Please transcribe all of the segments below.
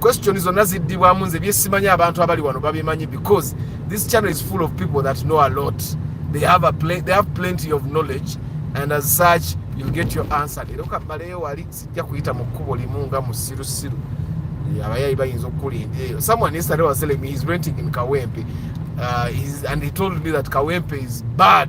question zonna ziddibwamu nze byesimanyi abantu abali wano babimanyi because this channel is full of people that know a lot they have, a pl they have plenty of knowledge and as such you get your answer leero kabbaleyo wali sijja kuyita mu kkubo limu nga musirusiru abayayi bayinza okukulinda eyo someone yesterday was telling me he's renting in kawempe uh, he's, and he told me that kawempe is bad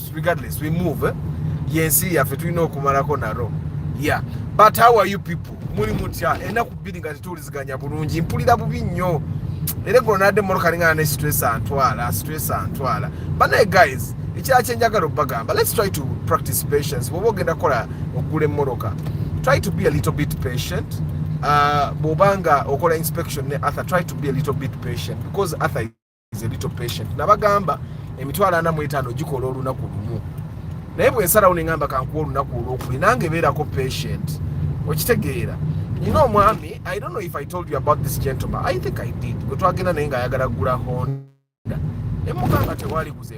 regardless we move eh? yensi yaffe tulina okumalako naro yeah but how are you people muli mutya enaku bbiri nga tetuwuliziganya bulungi mpulira bubi nnyo era eggulo nadde mmotoka alingana ne stress antwala stress antwala banaye guys ekirala kyenjagala okubagamba let's try to practice patience bwoba ogenda kukola okugula emmoloka try to be a little bit patient uh, bwobanga okola inspection ne arthur try to be a little bit patient because arthur is a little patient nabagamba emitwalo ana mu etaano gikola olunaku lumu naye bwe nsalawo ne ngamba kankuwa olunaku olwokubiri nange beerako patient okitegeera nina omwami i don't know if i told you about this gentleman i think i did gwe twagenda naye ng'ayagala kugula honda emugamba tewali kuze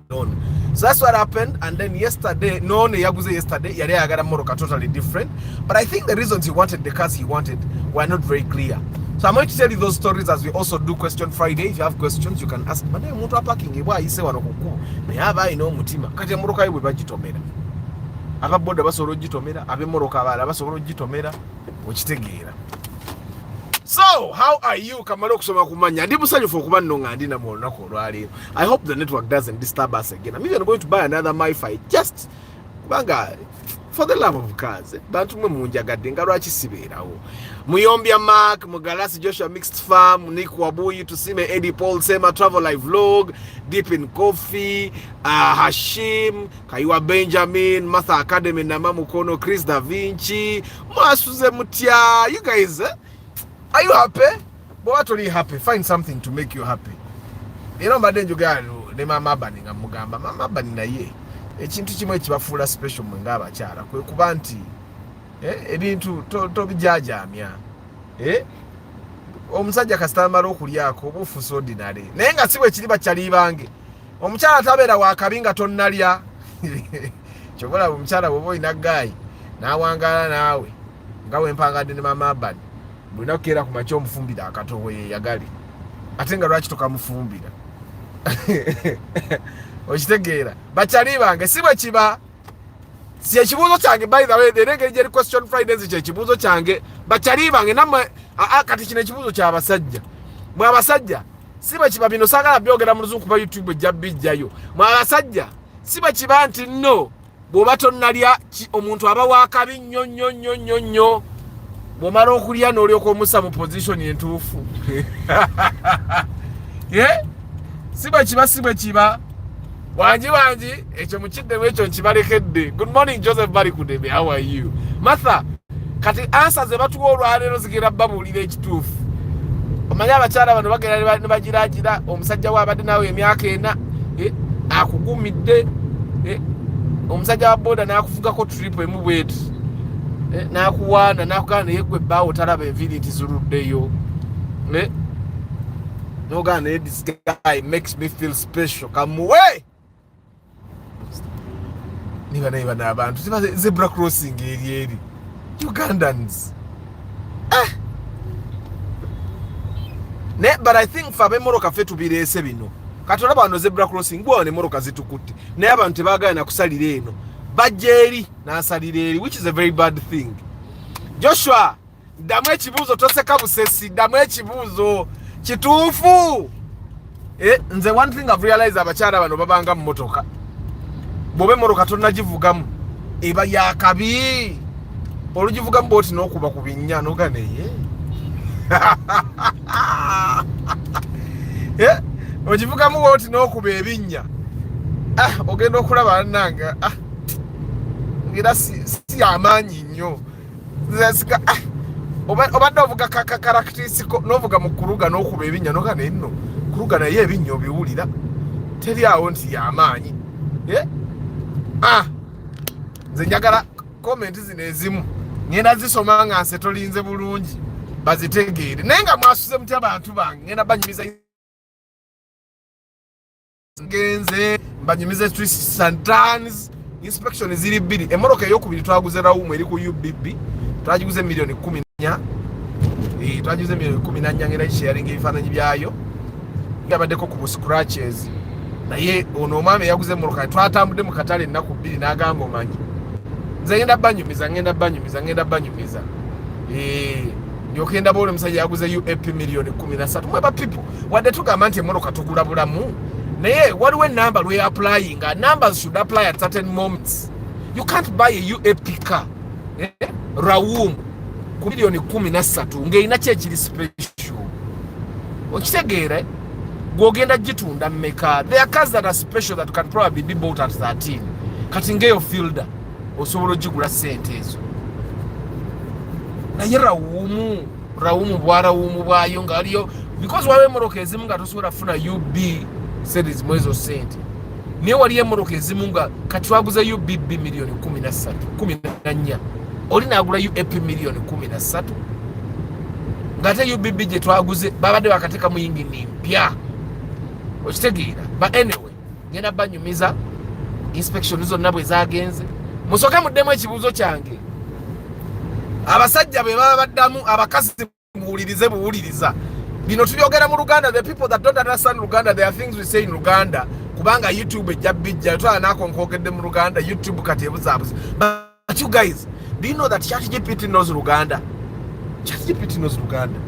none so that's what happened and then yesterday none yaguze yesterday yali ayagala moroka totally different but i think the reasons he wanted the cars he wanted were not very clear so i'm going to tell you those stories as we also do question friday if you have questions you can ask but naye omuntu apakinge bwa ayise wano kukubo naye aba alina omutima kati emoroka ye bwe bagitomera aba boda basobola ogitomera abemoroka abaala basobola ogitomera okitegeera so how are you kamala okusoma kumanya ndi musanyufu okuba nno nga ndi namwe olunaku olwaleero i hope the network doesn't disturb us again i'm even going to buy another mifi just kubanga for the love of cars bantu mwe munjagadde nga lwaki sibeerawo muyombya mark mugalasi joshua mixed farm nick wabuyi tusime edi paul sema travel live vlog deep in coffee uh, hashim kayiwa benjamin martha academy nama mukono chris da vinci mwasuze mutya you guys eh? are you happy bwoba toli happy find something to make you happy era mbadde njogera ne maama abani nga mugamba maama abani naye ekintu kimu ekibafuula special mwe ngaabakyala kwe kuba nti eh, ebintu tobijajamya eh, omusajja kasitambala okulyako oba ofuusa odinale naye nga si bwekiri bakyali bange omukyala tabeera wakabi nga tonnalya kyobolaba omukyala bwoba olina gaayi n'awangaala naawe nga wempangadde ne maama abani buli naku keera kumakya omufumbira akatobo yeyagale ate nga lwaki tokamufumbira okitegeera bakyali bange si bwe kiba si ekibuuzo kyange by the way era engeri gyeri question fridays kyekibuuzo kyange bakyali bange namwe kati kino ekibuuzo kyabasajja mwe abasajja si bwe kiba bino sagala byogera mu luzungu kuba youtube ejja bijjayo mwe abasajja si bwe kiba nti no bw'oba tonnalya omuntu aba wakabi nnyo nnyo nnyo nnyo nnyo bw'omala okulya n'olyoka omusa mu pozisioni entuufu eh? si bwe kiba si bwe kiba wangi wangi ekyo mukiddemu ekyo nkibalekedde good morning joseph bali kudebe how are you matha kati ansa ze batuwa olwaleero zigenda babuulira ekituufu omanyi abakyala bano bagenda ne bagiragira omusajja we abadde naawe emyaka ena eh, akugumidde eh, omusajja wa boda n'akufugako tripu emu bweti eh, n'akuwaana n'akugana naye gwe ebbaawo talaba enviiri nti ziruddeyo n'ogana naye this guy makes me feel special kamuwe niba naye bana abantu zebra crossing eri eri ugandans eh. ne but i think fe abemoroka fe tubireese bino kati olaba wano zebra crossing gwawo nemoroka zitukutte naye abantu tebagala nakusalira eno bajja eri nasalira eri which is a very bad thing joshua ddamu ekibuuzo toseka busesi ddamu ekibuuzo kituufu eh, nze one thing of realize abakyala bano babanga mu motoka bwoba emotoka tonagivugamu eba yakabi olugivugamu bwoti nokuba ku binnya noga neye eh, ogivugamu bwoti nokuba ebinnya ah, ogenda okulaba nange ah, era si yamaanyi nnyo ah, obadde ovuga kakakarakitisiko novuga mu kuluga n'okuba ebinnya noga naye nno kuluga naye ebinnya obiwulira teri awo nti yamaanyi eh? ah, nze njagala komenti zino ezimu ngenda zisoma nga nse tolinze bulungi bazitegeere naye nga mwasuze mutya bantu bange ngenda banyumiza genze mbanyumize twists and turns inspection ziri bbiri emmotoka eyokubiri twaguze rawumu eri ku ubb twagiguze miliyoni kumi nanya eh, twagiguze miliyoni kumi nanya ngera kisheyaringa ebifaananyi byayo yabaddeko ku bu scratches naye ono omwami eyaguze emmotoka twatambudde mu katale ennaku bbiri n'agamba omanyi nze ngenda banyumiza ngenda banyumiza ngenda banyumiza eh, yokenda baola omusajja yaguze uap miliyoni kumi nasatu mweba people wadde tugamba nti emmotoka tugula bulamu naye waliwo enamba lwe applyinga numbers should apply at certain moments you can't buy a uap car eh? rawum ku miliyoni kumi na ssatu ng'erina ki ekiri special okitegeera eh? gwogenda gitunda mumeka there are cars that are special that can probably be bought at 13 kati ngeyo fielder osobola ogigula sente ezo naye rawumu rawumu bwa rawumu bwayo nga waliyo because waliwo emmotoka ezimu nga tosobola kufuna ub series mu ezo sente naye waliyo emmotoka ezimu nga kati twaguza ubb miliyoni kumi na ssatu kumi na nnya oli naagula uap miliyoni kumi na ssatu ngaate ubb gye twaguze babadde bakateeka mu yingini mpya okitegeera ba anyway ngenda banyumiza inspection zonna bwe zagenze musoke muddemu ekibuuzo kyange abasajja be baba baddamu abakazi muwulirize buwuliriza bino tubyogera mu luganda the people that don't understand luganda there are things we say in luganda kubanga youtube ejja bijja twala nakonkogedde mu luganda youtube kati ebuzaabuza But you guys, do you know that ChatGPT knows Luganda? ChatGPT knows Luganda.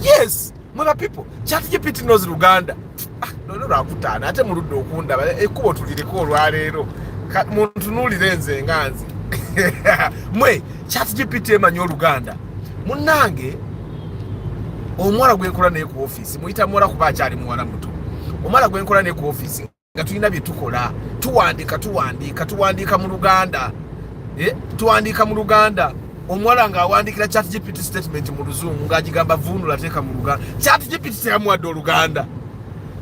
Yes, mother people, ChatGPT knows Luganda. Ah, no, no, rakutana. Ate murudo okunda. Ekubo tulireko olwalero. Muntu nuli renze nganzi. Mwe, ChatGPT emanyo Luganda. Munange, omwara gwenkula ne ku office. Muita mwara kubacha ali mwara mutu. Omwara gwenkula ne ku office. nga tulina bye tukola tuwandiika tuwandiika tuwandiika mu luganda eh, tuwandiika mu luganda omuwala ng'awandiikira chat gpt statement mu luzungu ng'agigamba vuunula teeka mu luganda chat gpt teyamuwadde oluganda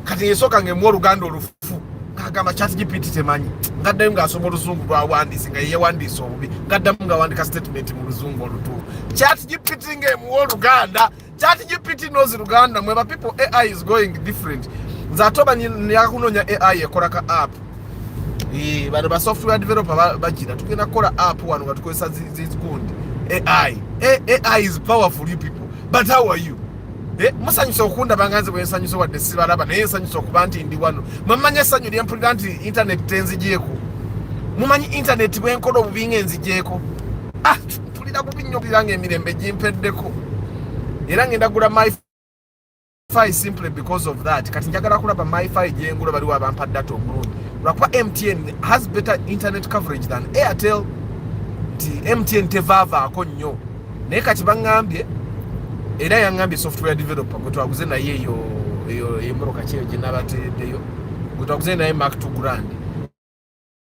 kati yesooka ng'emu oluganda olufu ng'agamba chat gpt temanyi ngaddayo ng'asoma oluzungu lwawandiise nga yeyewandiisa obubi ngaddamu ng'awandika statement mu luzungu olutuufu chat gpt ng'emuwa oluganda chat gpt knows luganda mwe ba people ai is going different zatoba yakunonya ai ekola ka app eh, bano ba software developer bagira tugenda kukola app wano nga tukozesa zizikundi ai ai is powerful you people but how are you eh, musanyusa okundaba nga nze bwensanyusa wadde sibalaba naye nsanyusa okuba nti ndi wano mwemumanyi essanyu lyempulira nti intaneti tenzigyeko mumanyi intaneti bwenkola obubi nga enzigyeko ah! mpulira bubi nnyo kugira nga emirembe gimpeddeko era ngenda gula myfi simply because of that kati njagala kulaba myfi gyengula baliwo abampa data omulungi lwakuba mtn has better internet coverage than airtel nti mtn tevaavaako nnyo naye kati baŋŋambye era yaŋŋambye software developer gwe twaguze naye eyo eyo emoroka kyeyo gye nabateereddeyo gwe twaguze naye mark to grand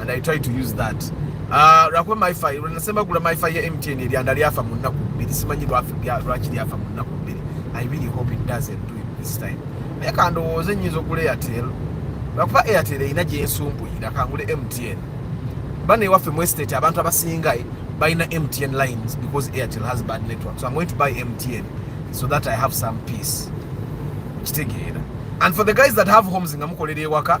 and I try to use that uh, lwakuba myfi lwenasemba gula myfi ya mtn eryanda lyafa mu nnaku bbiri simanyi lwaki lyafa mu nnaku bbiri I really hope it doesn't do it this time naye kandowooza enyinza okula airtel lwakuba airtel erina gyensumbuyira kangule mtn bana ewaffe mu estate abantu abasinga eh, balina mtn lines because airtel has bad network so I'm going to buy mtn so that I have some peace kitegeera and for the guys that have homes nga mukolera ewaka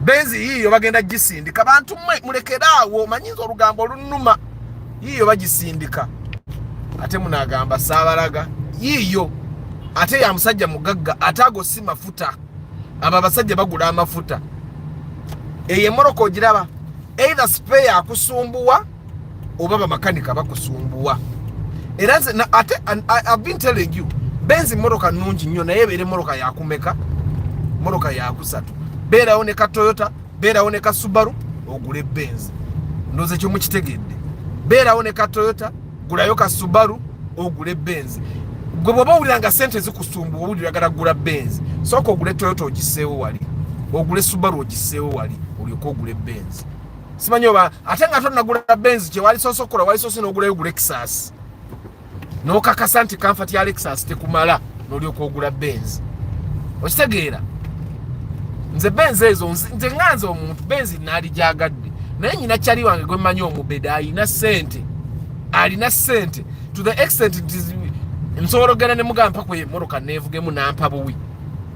benzi yiyo bagenda gisindika bantu mwe mulekere awo manyinza olugambo olunuma yiyo bagisindika ate munagamba sabalaga yiyo ate ya musajja mugagga ate ago si mafuta abo abasajja bagula amafuta eyo emoroko ogiraba either spare akusumbuwa oba bamakanika bakusumbuwa era nze ate I've been telling you benzi mmotoka nnungi nnyo naye ebeere mmotoka yakumeka mmotoka yakusatu beerawo ne ka toyota beerawo ne ka subaru ogule benzi ndoze ekyo mukitegedde beerawo ne ka toyota gulayo ka subaru ogule benzi gwe bwoba owulira nga sente zikusumbuwa owulira gala gula benzi sooka ogule toyota ogiseewo wali ogule subaru ogiseewo wali olyoke ogule benzi simanyi oba ate nga tonagula benzi kyewali soose okukola wali soose n'ogulayo gu lexus n'okakasa nti kanfa tya lexus tekumala n'olyoka ogula benzi okitegeera nze benzi ezo nze nga nze omuntu benzi naali gyagadde naye nyina kyali wange gwe mmanyi omubeda alina sente alina sente to the extent nti nsobola okugenda ne mugamba mpaku emmotoka neevugemu nampa buwi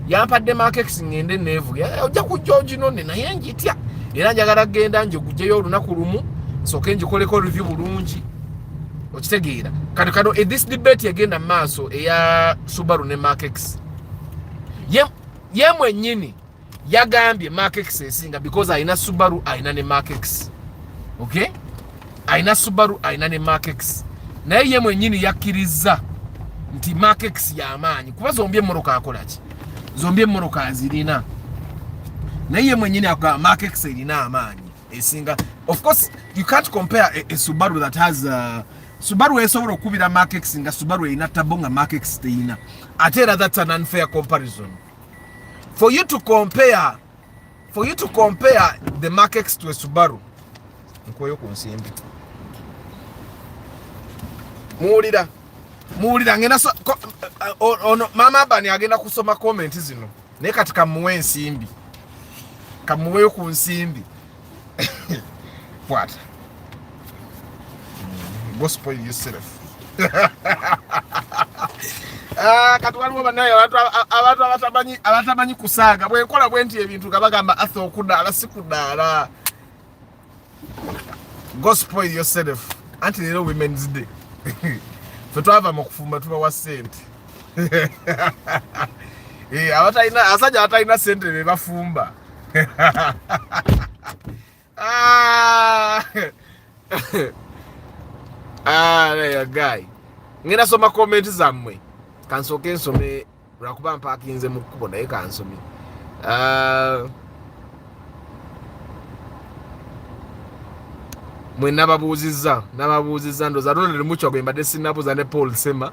yampadde makekisi ŋŋende neevuge eh, ojja kujja oginone naye njitya era njagala kugenda njigujeyo olunaku lumu nsooke ngikoleko review bulungi okitegeera kati kano edis eh, debate egenda mu maaso eya subaru ne makekisi ye mwennyini yagambye makekisi esinga because alina subaru alina ne makekisi okay alina subaru alina ne markex naye ye mwenyini yakkirizza nti markex yamaanyi kuba zombi emmoroka akolaki zombi emmoroka azirina naye ye mwenyini akola markex erina amaanyi esinga of course you can't compare a, a subaru that has uh, subaru esobola okukubira markex nga subaru erina tabo nga markex teyina ate era that's an unfair comparison for you to compare for you to compare the Mark X to a Subaru nkweyo ku nsimbi muwulira muwulira ngenda so, ko, uh, ono maama abani agenda kusoma komenti zino naye kati kamuwe ensimbi kamuweyo ku nsimbi What? Mm, go spoil yourself. Ah, kati waliwo banaye abantu abatamanyi abatamanyi kusaaga bwenkola bwenti ebintu nga bagamba atha okudaala si kudaala go spoil yourself anti leero women's day fe twava mu kufumba tubawa sente Eh, abatalina asajja abatalina sente be bafumba ah. ah, guy ngenda soma comment zammwe kansooke nsome lwakuba mpakinze mu kkubo naye kansome ah. mwe nababuuzizza nababuuzizza ndoza ronald mucwa gwe mbadde sinabuuza ne paul sema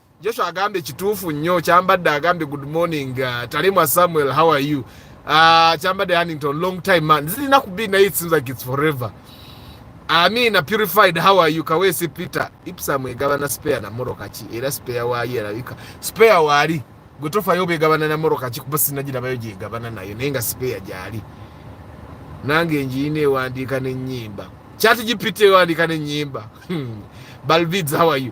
Joshua agambye kituufu nnyo kyambadde agambye good morning uh, Talimwa Samuel how are you uh, kyambadde Hannington long time man zirina ku be naye it seems like it's forever Amina purified how are you Kawesi Peter Ipsam egabana spare na moro kaki era spare waali erabika spare waali gwe tofayo begabana na moro kaki kuba sinagirabayo gyegabana nayo naye nga spare gyali nange njiyina ewandiika n'ennyimba kyati gipita ewandiika n'ennyimba hmm. balvids how are you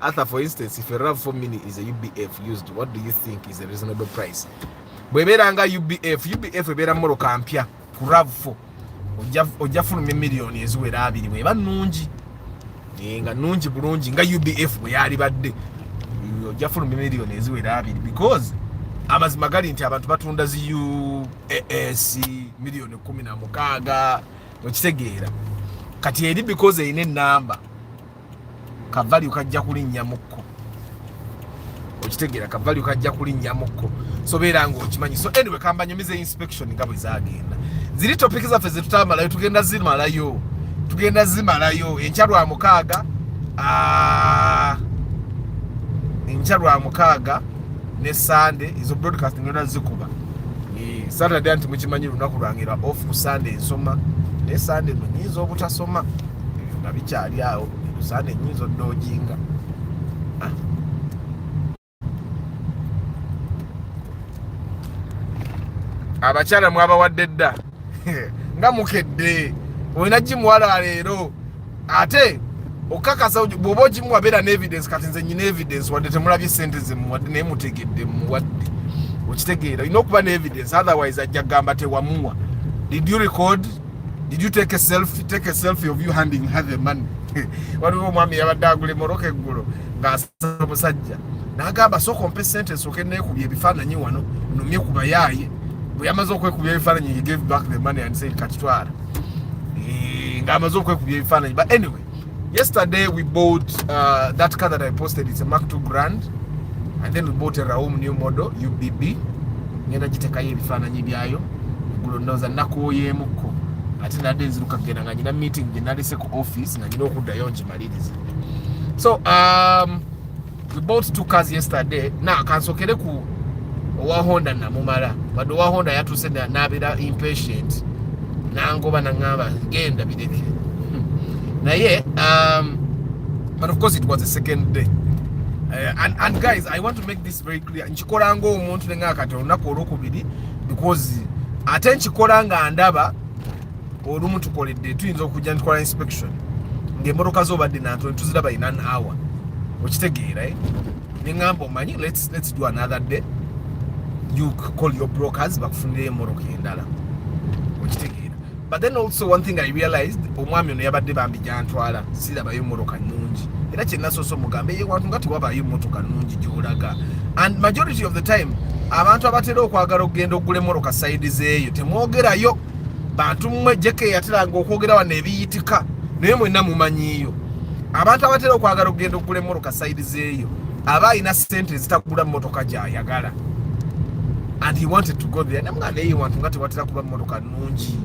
Arthur, for instance, if a RAV4 Mini is a UBF used, what do you think is a reasonable price? bwebeera nga ubf ubf ebeera moroka mpya ku rav4 ojja fuluma emiliyoni eziwera abiri bweba nungi eh, nga nungi bulungi nga ubf bweyali badde eh, ojja fuluma emiliyoni eziwera abiri because amazima gali nti abantu batunda zi uas miliyoni kumi na mukaaga okitegeera kati eri because erina enamba kavalyu kajja kulinnya mukko okitegeera kavalyu kajja kulinnya mukko so beera nga okimanyi so anyway kambanyumiza inspection nga bwe zagenda ziri topiki zaffe zetutamalayo tugenda zimalayo tugenda zimalayo enkya lwa mukaaga ah, enkya lwa mukaaga ne sande ezo broadcasting yona zikuba eh, saturday nti mukimanyi lunaku lwange lwa off ku sande ensoma naye sande no nyinza obutasoma ebyo nga bikyali awo erusaana enyinza odojinga ah. abakyala mwabawadde dda nga mukedde olina gimuwala leero ate okakasa bwoba ogimuwa beera ne evidence kati nze nyina evidence wadde temulabye sente zemuwadde naye mutegedde muwadde okitegeera olina okuba ne evidence otherwise ajja kugamba tewamuwa did you record Did you take a selfie? Take a selfie of you handing her the money. Waliwo omwami yabadde agula emoroka eggulo ng'asaba omusajja n'agamba sooka ompe ssente nsooke neekubya ebifaananyi wano numye ku bayaaye bwe yamaze okwekubya ebifaananyi he gave back the money and said kakitwala eh, ng'amaze okwekubya ebifaananyi but anyway Yesterday we bought uh, that car that I posted. It's a Mark II Grand. And then we bought a Raum new model, UBB. Ngenda jitekayo ebifaananyi byayo. Gulo ndoza nakuoyemuko. Ati nade nziruka gena nga nina meeting gye nalese ku office nga nina okuddayo ngimalirize. So um, we bought two cars yesterday na kansokere ku owa honda namumala wadde owa honda yatuuse nabeera impatient nangoba naŋamba genda bireke hmm. naye um, but of course it was the second day Uh, and, and guys i want to make this very clear nkikola ngaomuntu nenga kati olunaku olwokubiri because ate nkikola nga ndaba olumu tukoledde tuyinza okujja ntukola inspection ngaemotoka zo obadde nantu netuziraba in an hour okitegeera eh? neŋamba omanyi let's, let's do another day you call your brokers bakufunira emotoka endala okitegeera but then also one thing i realized omwami ono yabadde bambi gyantwala sirabayo emotoka nungi era kyenasoose omugamba eyewantu nga tewabayo emotoka nungi gyolaga and majority of the time abantu abatera okwagala okugenda okugula emotoka saidi zeeyo temwogerayo bantu mmwe jeke yateranga okwogera wano ebiyitika naye mwenna mumanyiiyo abantu abatera okwagala okugenda okugula emmotoka sayidi zeeyo aba alina sente ezitagula mmotoka gyayagala and he wanted to go there namga naye wantu nga tewatera kuba mmotoka nnungi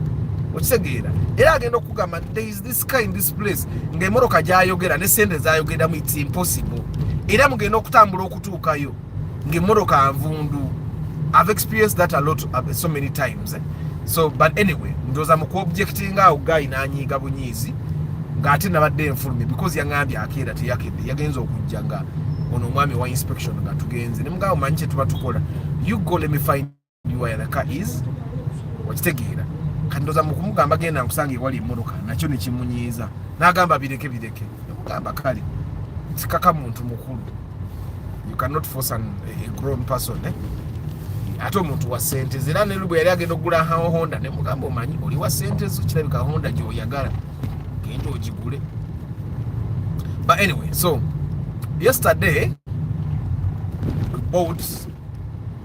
okitegeera era agenda okugamba there is this car in this place ng'emmotoka gyayogera ne sente zayogeramu it's impossible era mugenda okutambula okutuukayo ng'emmotoka nvundu i've experienced that a lot uh, so many times eh? so but anyway ndoza mu kuobjectinga awo guy nanyiiga bunyiizi ng'ate nabadde enfulumye because yaŋambye akeera teyakedde yagenza okujja nga ono omwami wa inspection nga tugenze ne mugamba manyi kye tuba tukola you go let me find uilka is okitegeera kati ndoza mukumugamba genda nkusanga ewali emotoka nakyo nekimunyiiza nagamba bireke bireke namugamba kale sikaka muntu mukulu you cannot force an, a grown person eh? ate omuntu wa sente zera nelu bwe yali agenda okugula hawa honda nemugamba omanyi oli wa sente zo kirabika honda gyoyagala genda ogigule but anyway so yesterday we bought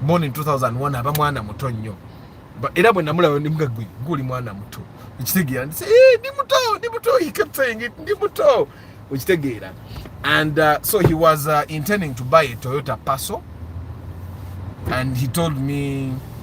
born in 2001 aba mwana muto nnyo era bwe namulaba ndi mga gwe nguli mwana muto okitegeera ndi eh, ndi muto ndi muto he kept saying it ndi muto okitegeera and uh, so he was uh, intending to buy a Toyota Passo and he told me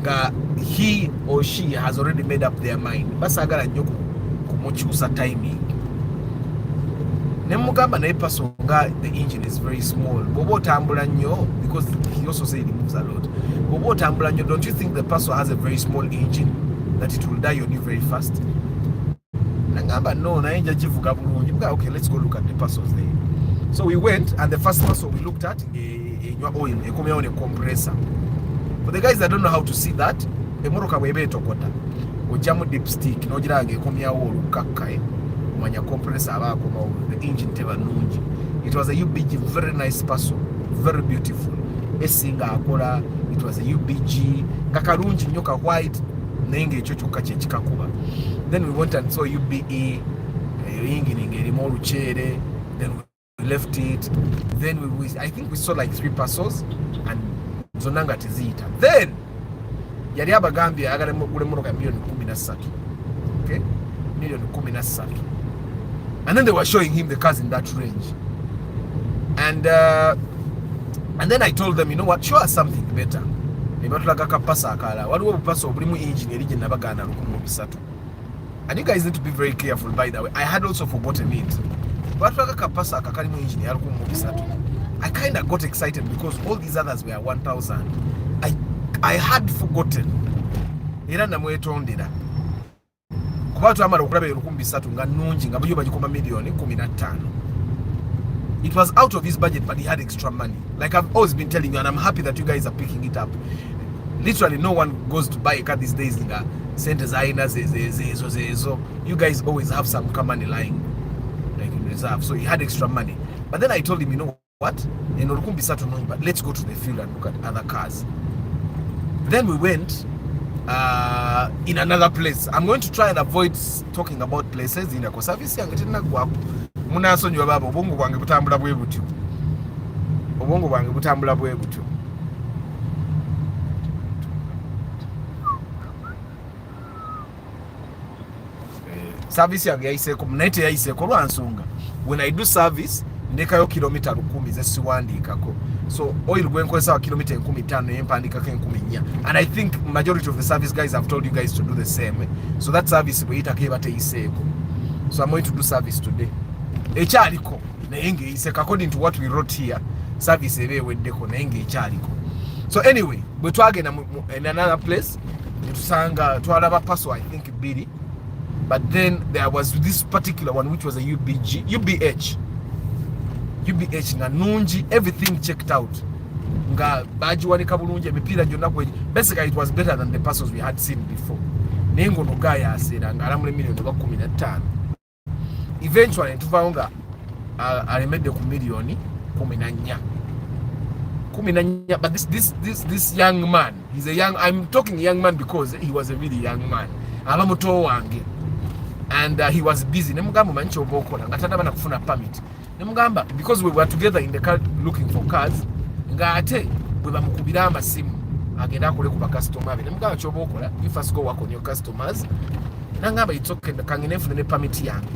nga he or she has already made up their mind basagala nnyo kumukyusa timing nemugamba naye paso nga the engine is very small bwoba otambula nnyo because he also said he moves a lot bwoba otambula nnyo don't you think the paso has a very small engine that it will die on you very fast nangamba no naye nja kivuga bulungi mga okay let's go look at the parcels there so we went and the first parcel we looked at enywa eh, eh, oil ekomyawo ne compressor for the guys that don't know how to see that emotoka bweba etokota ojjamu dipstick nogiranga ekomyawo olukkakka eh, omanya compressor aba akomawo the engine teba nungi it was a ubg very nice parcel very beautiful esinga akola it was a ubg nga kalungi nnyo ka white naye ngaekyo kyokka kyekikakuba then we went and saw ube eyo yingini ngaerimu oluceere then we left it then we, we, i think we saw like three parcels and zonna nga teziyita then yali abagambye ayagala mugula emmotoka ya milioni kumi na ssatu okay? milioni kumi na ssatu and then they were showing him the cars in that range and uh, and then i told them you know what show us something better ne batulaga kapasa akalala waliwo obupasa obulimu engine eri gye nabagaana lukumu bisatu and you guys need to be very careful by the way i had also forgotten it batulaga kapasa akakalimu engine ya lukumu bisatu i kind of got excited because all these others were 1000 i, I had forgotten era namwetondera kuba twamala okulaba eyo lukumi bisatu nga nungi nga buyo bagikoma miliyoni kumi na ttaano it was out of his budget but he had extra money like i've always been telling you and i'm happy that you guys are picking it up literally no one goes to buy a car these days nga sente zalina zezo zezo you guys always have some car money lying like in reserve so he had extra money but then i told him you know what eno lukumbi satu nungi but let's go to the field and look at other cars then we went uh, in another place i'm going to try and avoid talking about places in ako service yange tenagwaku munasonyiwa baba obwongo bwange butambula bwe butyo obwongo bwange butambula bwe butyo eh, service yange yayiseeko naye teyayiseeko lwa nsonga when i do service ndekayo kilomita lukumi ze siwandiikako so oil gwenkozesa wa kilomita enkumi tano naye mpandiikako enkumi nnya and i think majority of the service guys have told you guys to do the same so that service bweyitako eba teyiseeko so i'm going to do service today ekyaliko naye ngaeyiseko according to what we wrote here service eba eweddeko naye ngaekyaliko so anyway bwe twagenda in another place tusanga twalaba paso i think bbiri but then there was this particular one which was a ubg ubh ubh nga nungi everything checked out nga bagiwanika bulungi emipiira gyonna kwe basically it was better than the passos we had seen before naye ngaono gaayaseera ng'alamula emiliyoni oba kumi na ttaano eventually netuvawo nga alemedde ku miliyoni kumi na nnya kumi na nnya but this, this, this, this young man he's a young, I'm talking young man because he was a really young man aba muto wange and uh, he was busy nemugamba omanyi kyoba okola nga tanaba nakufuna permit nemugamba because we were together in the car looking for cars nga ate bwe bamukubira amasimu agenda akole ku bakasitoma be nemugamba kyoba okola you first go work on your customers nangamba it's okay kangene nfune ne permit yange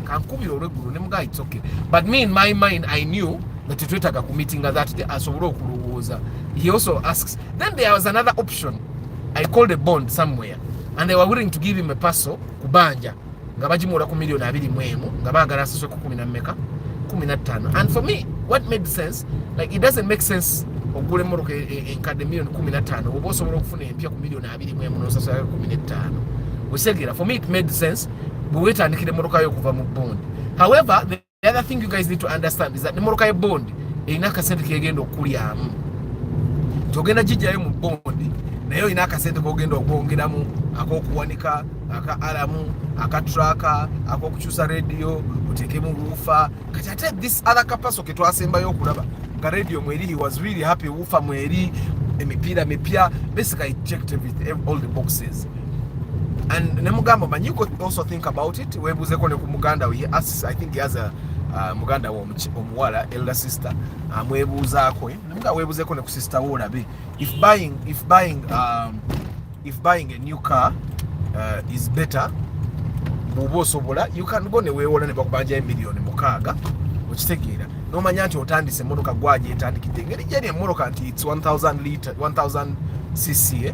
kankubira olweggulo nemugamba it's okay but me in my mind i knew that twetaga ku meeting that day asobole okulowooza he also asks then there was another option i called a bond somewhere and they were willing to give him a parcel kubanja nga bagimuula ku million abiri mu emu nga baagala asaswe ku kumi na mmeka kumi na ttaano and for me what made sense like it doesn't make sense okugula emmotoka e, e, enkadde million kumi na ttaano oba osobola okufuna empya ku million abiri mu emu nosasulayo kumi n'ettaano okitegera for me it made sense bwe weetandikira emmotoka yo okuva mu bond however the the other thing you guys need to understand is that nemoroka ye bond erina akasente kegenda okulyamu togenda gijjayo mu bondi naye olina akasente kogenda okwongeramu akokuwanika aka alamu aka traka akokukyusa rediyo otekemu wuufa kati ate this other kapaso ketwasembayo okulaba nga rediyo mweri he was really happy wuufa mweri emipiira mipya basically checked everything all the boxes and ne mugamba man you could also think about it webuuzeko ne ku muganda we asks i think he has a uh, muganda we omuwala elder sister amwebuuzaako um, eh? nemuga webuuzeko ne ku sister we olabe if buying if buying um, if buying a new car uh, is better bwoba osobola you can go ne weewola ne bakubanja emiliyoni mukaaga okitegeera nomanya nti otandise emotoka gwagyetandikidde engeri gyeri emotoka nti its 1000 cc eh?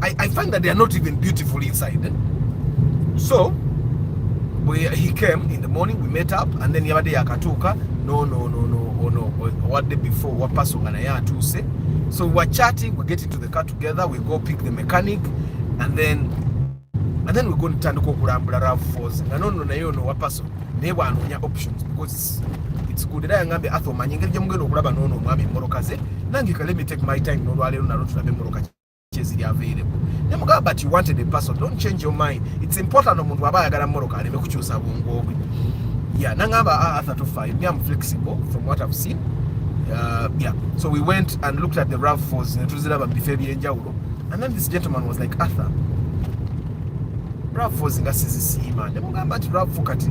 I, I find that they are not even beautiful inside. Eh? So we, he came in the morning, we met up and then yabade yakatuka no no no no oh, no oh, what day before what person wapasonga naye atuuse so we were chatting we get into the car together we go pick the mechanic and then and then we go ntandika okulambula rav falls nga nono naye ono wapaso naye bwanoonya options because it's good era yangambye atho omanyi engeri gyemugenda okulaba noono omwami emmoroka ze nange ka let me take my time nolwaleero nalo tulabe emmoroka kyeziri available ne mugamba but you wanted a person don't change your mind it's important omuntu aba ayagala moroka aleme kukyusa bwongo bwe yeah nangamba ah, arthur tofai me am flexible from what i've seen uh, yeah so we went and looked at the rough falls netuziraba mu bifo ebyenjawulo and then this gentleman was like arthur rough falls nga sizisiima ne mugamba nti rough kati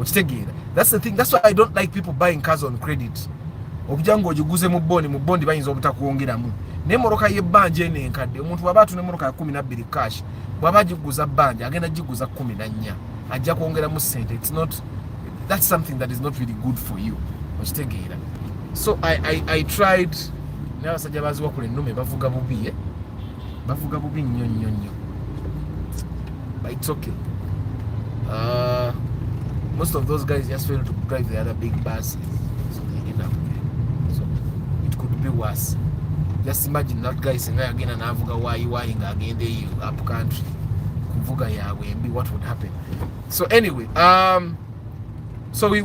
okitegeera that's the thing that's why i don't like people buying cars on credit obija ng'ogiguze mu bondi mu bondi bayinza obutakwongeramu naye moroka y'ebbanja eno enkadde omuntu bwaba atuna emoroka ya kumi nabbiri cash bwaba agiguza bbanja agenda giguza kumi na nnya ajja kwongeramu sente its not that's something that is not really good for you okitegeera so i, I, I tried n'abasajja baziwakula ennume bavuga bubi eh? bavuga bubi nnyo nnyo nnyo but it's okay uh, most of those guys just fail to drive the other big buses so they end up so it could be worse just imagine that guy singa yagenda navuga wayiwayi nga agenda eyo up country kuvuga yaabwe mbi what would happen so anyway um, so we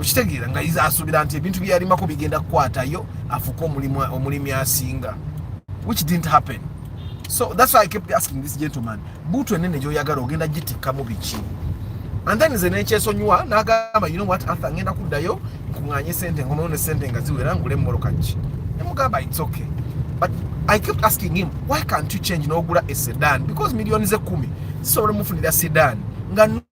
okitegeera nga asuubira nti ebintu byeyalimako bigenda kukwatayo afuuke omulimi asinga which didn't happen so that's why i kept asking this gentleman buutu enene gyoyagala ogenda gitikkamu biki and then nze nekyesonyiwa nagamba you know what arthur ngenda kuddayo nkuŋanye sente nkomewo ne sente nga ziwera ngule mumoloka ki nemugamba its okay but i kept asking him why can't you change nogula esedan because millioni zekumi zisobola mufunira sedan nga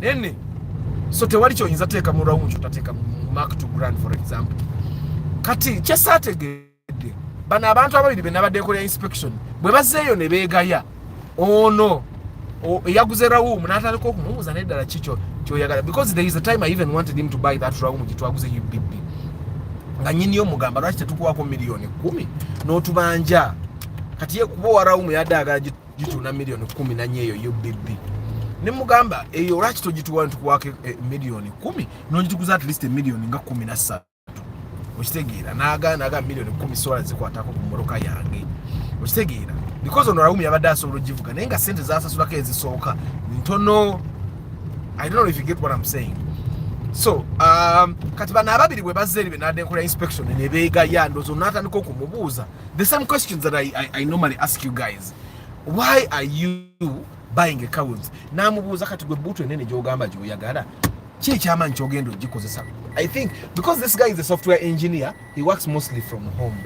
nene so tewali kyoyinza teeka mu rawundi kyotateeka mu mark to grand for example kati kyesaategedde bano abantu ababiri be nabadde ekolera inspection bwe bazeeyo ne beegaya ono eyaguze rawumu n'atandika okumubuuza neddala kikyo kyoyagala because there is a time i even wanted him to buy that rawumu gye twaguze ubb nga nyiniyo mugamba lwaki tetukuwako miliyoni kumi n'otubanja kati ye kuba owa rawumu yadde agala gitunda miliyoni kumi nanye eyo ubb nemugamba eyo eh, olwaki togituwa ntukuwako eh, miliyoni kumi nogituguza at least emiliyoni nga kumi nassatu okitegeera nagaana aga miliyoni kumi sola zikwatako ku mmotoka yange okitegeera because ono rawumi yabadde asobola ogivuga naye nga sente zasasulako ezisooka ntono i don't know if you get what i'm saying so um, kati bano ababiri bwe bazze eri benadde nkola inspection nebeegaya ndozo natandika okumubuuza The same questions that I, I, I normally ask you guys. Why are you buying a cows? Namubuuza kati gwe buutu enene gy'ogamba gy'oyagala ki ekyamaanyi ky'ogenda ogikozesa I think because this guy is a software engineer he works mostly from home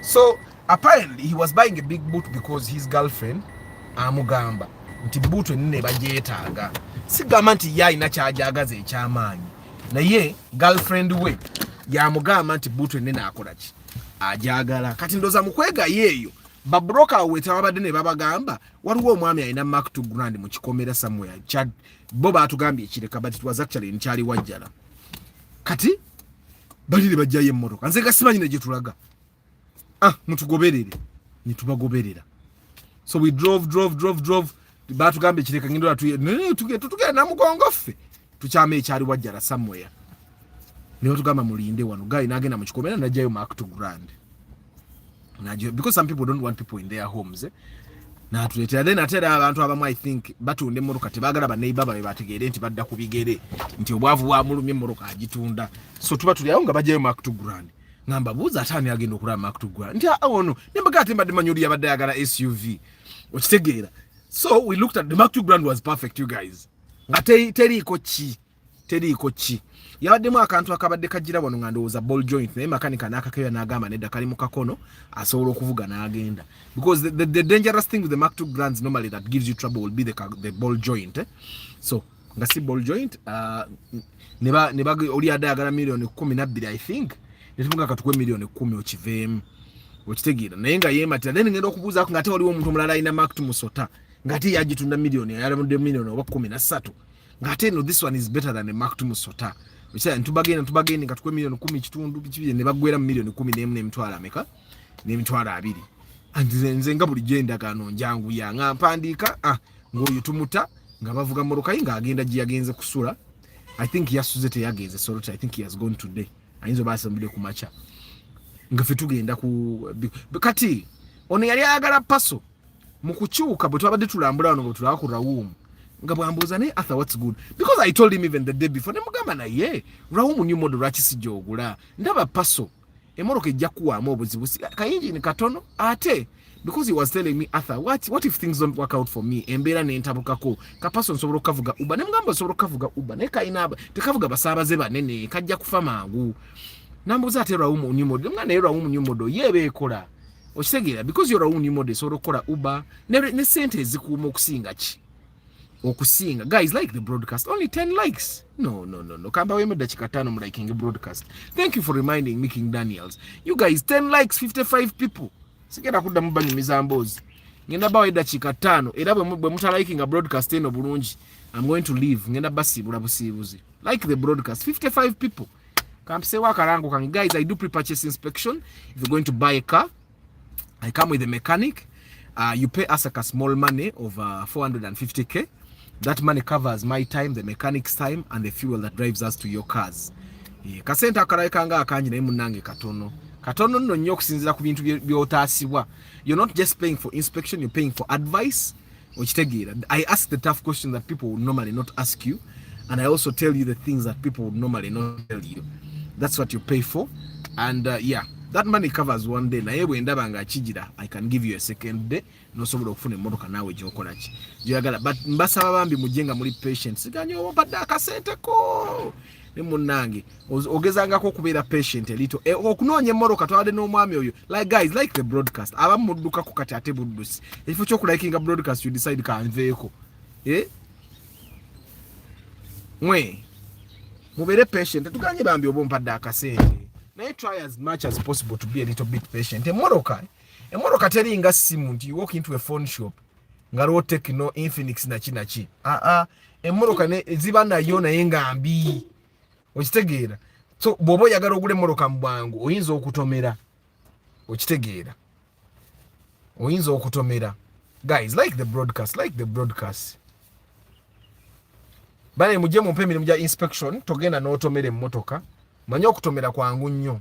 so apparently he was buying a big boot because his girlfriend amugamba nti buutu enene bagyetaaga sigamba nti ye alina kyagyagaza ekyamaanyi naye girlfriend we yamugamba nti buutu enene akolaki ajagala kati ndoza mukwega yeyo ba broker awo wetawabadde ne babagamba waliwo omwami alina mark to grand mu kikomera somewhere chad bo batugambye ekireka but it was actually in chali wajjala kati bali ne bajjayo emmotoka nze gasimanyi ne gyetulaga ah mutugoberere ne tubagoberera so we drove drove drove drove batugambye kireka ngendo tugenda namugongo ffe tukyama ekyali wajjala somewhere niwe tugamba mulinde wano guy nagenda mu kikomera najjayo mark to grand najjayo because some people don't want people in their homes eh? natuleetera then ate era abantu abamu i think batunda emmotoka tebagala baneiba babe bategeere nti badda ku bigere nti obwavu bwamulumya emmotoka agitunda so tuba tulyawo nga bajjayo mark to grand ngamba buuza ate ani agenda okulaba makutugwa nti ah, ono nembaga ate mbadde manyi oli yabadde ayagala suv okitegeera so we looked at the maktu grand was perfect you guys nga teriiko ki teriiko ki yabaddemu akantu akabadde kajira wano nga ndowooza ball joint naye makanika n'akakeera n'agamba nedda kali mu kakono asobola okuvuga n'agenda because the, the, the dangerous thing with the maktu grands normally that gives you trouble will be the, the ball joint eh? so nga si ball joint uh, ne ba ne ba oli ada agala million 12 i think ne tumunga katukwe million 10 okivem okitegira naye nga yema tira then ngenda okubuza ko ngate oliwo omuntu mulala ina mark to musota ngate yaji tunda million ya yalamu de million oba 13 ngate no this one is better than a mark to musota bicha ntubagenda ntubagenda katukwe million 10 kitundu kibiye ne bagwera million 10 ne mne mtwala ameka ne mtwala abiri nze nga bulijjo endagaano njangu ya nga mpandiika ah, ng'oyo tumuta nga bavuga mmotoka ye ng'agenda gye yagenze kusula i think yasuze teyagenze sorot i think he has gone today ayinza oba asambudde ku makya nga fe tugenda ku kati ono yali ayagala paso mu kukyuka bwe twabadde tulambula wano bwe tulaba ku rawuumu nga bwambuuza naye arthur whats good because i told him even the day before ne mugamba naye rawuumu new model lwaki sijja ogula ndaba paso emoroka ejja kuwaamu obuzibu kayinjini katono ate because he was telling me Arthur what, what if things don't work out for me embeera nentabukako kapaso nsobola okukavuga uba ne mugamba nsobola okukavuga uba naye kalina tekavuga basaabaze banene kajja kufa mangu nambuuza ate rawumu new model nga naye rawumu new model ye beekola okitegeera because yo rawumu new model esobola okukola uba ne, ne sente ezikuuma okusinga ki okusinga guys like the broadcast only 10 likes no no no no kamba weme dakika tano mliking broadcast thank you for reminding me king daniels you guys 10 likes 55 people sigenda kuddamu banyumiza mboozi ngenda bawa eddakiika ttaano era bwe mutalikinga broadcast eno bulungi am going to leave ngenda basiibula busiibuzi like the broadcast 55 people kampiseewo akalango kange guys i do pre-purchase inspection if you're going to buy a car I come with a mechanic uh, you pay us like a small money of uh, 450k that money covers my time the mechanic's time and the fuel that drives us to your cars yeah. kasente akalabika nga akangi naye munange katono katono nno nnyo okusinzira ku bintu byotaasibwa you're not just paying for inspection you're paying for advice okitegeera i ask the tough question that people would normally not ask you and i also tell you the things that people would normally not tell you that's what you pay for and uh, yeah that money covers one day naye bwendaba nga kijira i can give you a second day nosobola okufuna emotoka naawe gyokola ki gyoyagala but mbasaba bambi mujje nga muli patient siganye obadde akasente ko ne munnange ogezangako okubeera patient elito e, okunoonya emmoroka twabadde n'omwami oyo like guys like the broadcast abamu muddukako kati ate buddusi ekifo kyokulakinga broadcast you decide kanveeko eh? mwe mubeere patient tuganye bambi oba ompadde akasente naye try as much as possible to be a little bit patient emmoroka emmoroka teringa simu nti you walk into a phone shop nga lwo tekino infinix naki naki aa ah, ah. emmotoka ziba nayo naye nga mbi okitegeera so bw'oba oyagala ogula emmotoka mu bwangu oyinza okutomera okitegeera oyinza okutomera guys like the broadcast like the broadcast bale mujje mumpe emirimu gya inspection togenda n'otomera emmotoka manye okutomera kwangu nnyo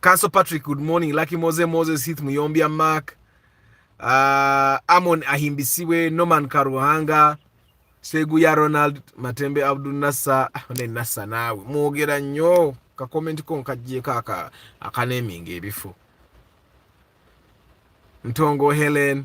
Castle Patrick, good morning. Lucky Mose Moses, Heath Muyombia Mark, uh, Amon Ahimbisiwe, Norman Karuhanga, Seguya Ronald, Matembe Abdul Nassa, ah, ne Nassa nawe. Mwogera nnyo ka comment ko nkajjeko aka akaneminga ebifu. Ntongo Helen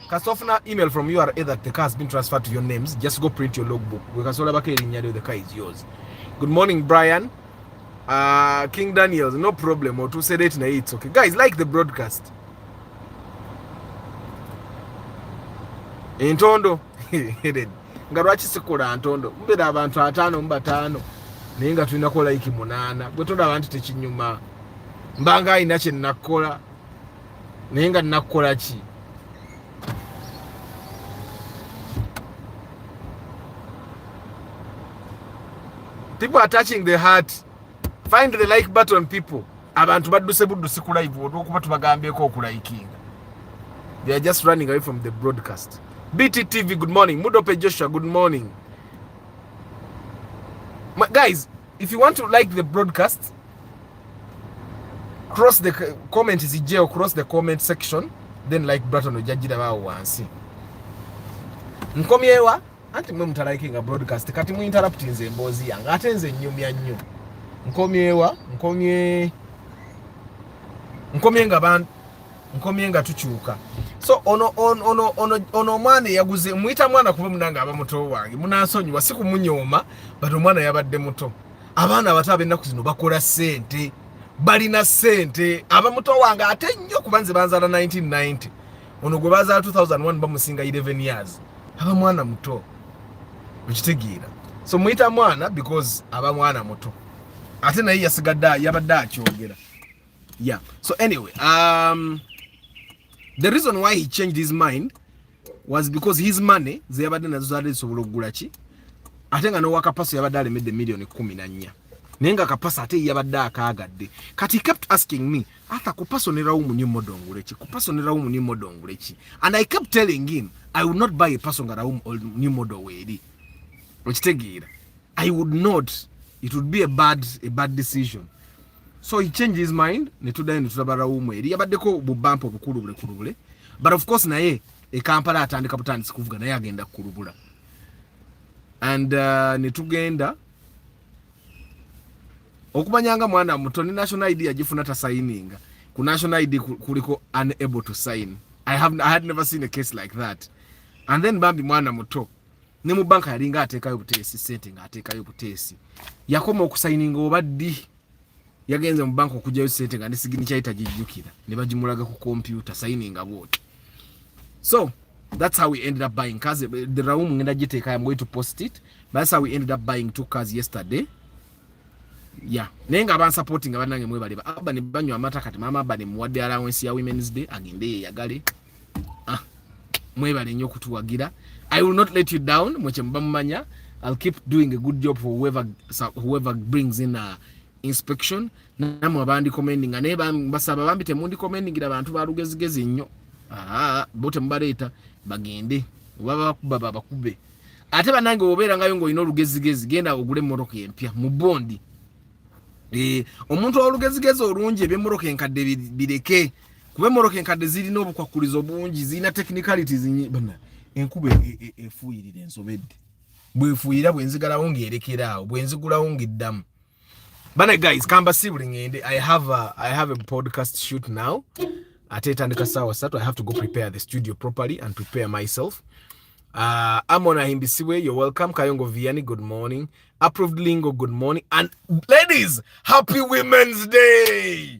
kasofuna email from ura that the car has been transferred to your names just go print your logbook wekasolabako erinnya lyo the car is yours good morning brian uh, king daniels no problem otuuse late naye it's okay guys like the broadcast entondo nga lwaki sikola ntondo mubeera abantu ataano mu bataano naye nga tulinako like munaana gwe tolaba nti tekinyuma mbanga alina kyenakkola naye nga nakukola ki people are touching the heart find the like button people abantu badduse buddusi ku live olwokuba tubagambyeko okulikinga they are just running away from the broadcast bt tv good morning mudope joshua good morning My, guys If you want to like the broadcast, cross the comment zijjeo, cross the comment section, then like button ojajira bawo wansi. Nkomyewa anti mwe mutalikinga broadcast kati mu interrupt nze emboozi yange ate nze nyumya nnyo. Nkomyewa, nkomye nkomye nga bantu nkomye nga tukyuka so ono ono ono ono ono omwana eyaguze muyita mwana kuba munange aba muto wange munansonyiwa si kumunyooma but omwana yabadde muto abaana abato abennaku zino bakola sente balina sente aba muto wange ate nnyo kuba nze banzala 1990 ono gwe bazala 2001 bamusinga 11 years aba mwana muto okitegeera so muyita mwana because aba mwana muto ate naye yasigadde yabadde akyogera Yeah. So anyway, um, the reason why he changed his mind was because his money zeyabadde nazo zaali zisobola okugula ki ate nga n'owa kapaso yabadde alemedde miliyoni kumi na nnya naye nga kapaso ate yabadde akaagadde kati he kept asking me ata kupasonerawo mu new model nguleki kupasonerawo mu new model nguleki and i kept telling him i would not buy a person nga rawo new model weeri okitegeera i would not it would be a bad, a bad decision so he changed his mind ne tudayo ne tulaba rawumu eri yabaddeko bubampa obukulubule kulubule but of course naye e Kampala atandika butandisi kuvuga naye agenda kulubula and uh, ne tugenda okumanya nga mwana muto ne national id yagifuna tasayininga ku national id kuliko unable to sign I, have, I had never seen a case like that and then bambi mwana muto ne mu banka yalinga ateekayo buteesi sente ng'ateekayo buteesi yakoma okusayininga oba ddi yagenze mu banka okugyayo sente nga nesigini kyali tagijjukira ne bagimulaga ku kompyuta sayininga bwoti so that's how we ended up buying cars the room ngenda giteekayo am going to post it but that's how we ended up buying two cars yesterday ya naye nga abansupportinga banange mwebaleba abba ne banywa amata kati maama abba ne muwadde allowance ya women's day agende yeyagale ah, mwebale nyo kutuwagira i will not let you down mweche mbamumanya i'll keep doing a good job for whoever, whoever brings in a inspection namwe abandi commending naye basaba bambi temundi commendingira bantu balugezigezi nnyo ah, bo temubaleeta bagende oba bakuba babakube ate banange obeera ngayo ngaolina olugezigezi genda ogule emmotoka empya mu bondi eh, omuntu olugezigezi olungi ebyemmotoka enkadde bireke kuba emmotoka enkadde zirina obukwakkulizo bungi zirina technicalities bana enkuba e, e, e, efuuyirira ensobedde bwefuuyira bwenzigalawo ngaerekera awo bwenzigulawo ngaeddamu bana guys kamba sibuli ngende i have a, i have a podcast shoot now ate etandika saawa satu i have to go prepare the studio properly and prepare myself uh, amon ahimbisiwe you're welcome kayongo viani good morning approved lingo good morning and ladies happy women's day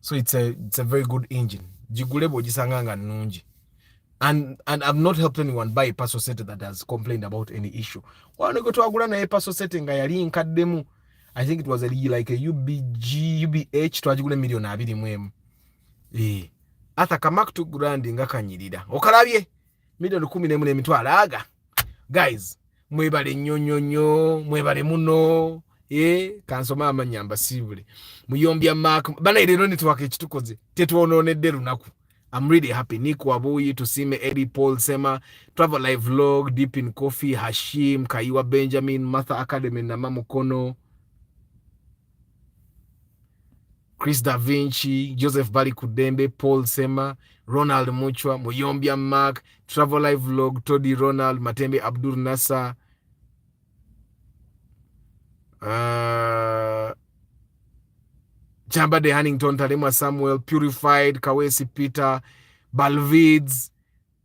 so it's a, it's a very good engine gigule bwogisanga nga nnungi and, and I've not helped anyone buy a personal setting that has complained about any issue wano gwe twagula naye personal setting nga yali nkaddemu I think it was a, like a UBG, UBH twagigula million abiri mu emu eh ata kamak to grand nga kanyirira okalabye million kumi n'emu n'emitwalo aga guys mwebale nnyo nnyo nnyo mwebale muno eh, kansoma amanya mbasiibule muyombya mak banaye leero netwaka ekitukoze tetwonoonedde lunaku I'm really happy. Nick Wabuyi, Tusime, Eddie Paul Sema, Travel Live Vlog, Deep in Coffee, Hashim, Kaiwa Benjamin, Martha Academy, Nama Mukono, Chris Da Vinci, Joseph Bali Kudembe, Paul Sema, Ronald Muchwa, Muyombya Mark, Travel Live Vlog, Toddy Ronald, Matembe Abdul Nasa, uh, Chamba de Hannington, Talemwa Samuel, Purified, Kawesi Peter, Balvids,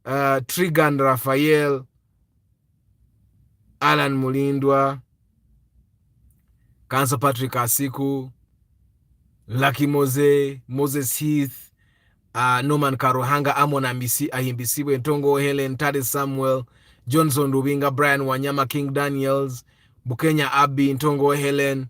uh, Trigan Raphael, Alan Mulindwa, Kansa Patrick Asiku, Lucky Mose, Moses Heath, uh, Norman Karuhanga, Amon Amisi, Ahimbisibwe, Ntongo Helen, Tade Samuel, Johnson Rubinga, Brian Wanyama, King Daniels, Bukenya Abi, Ntongo Helen,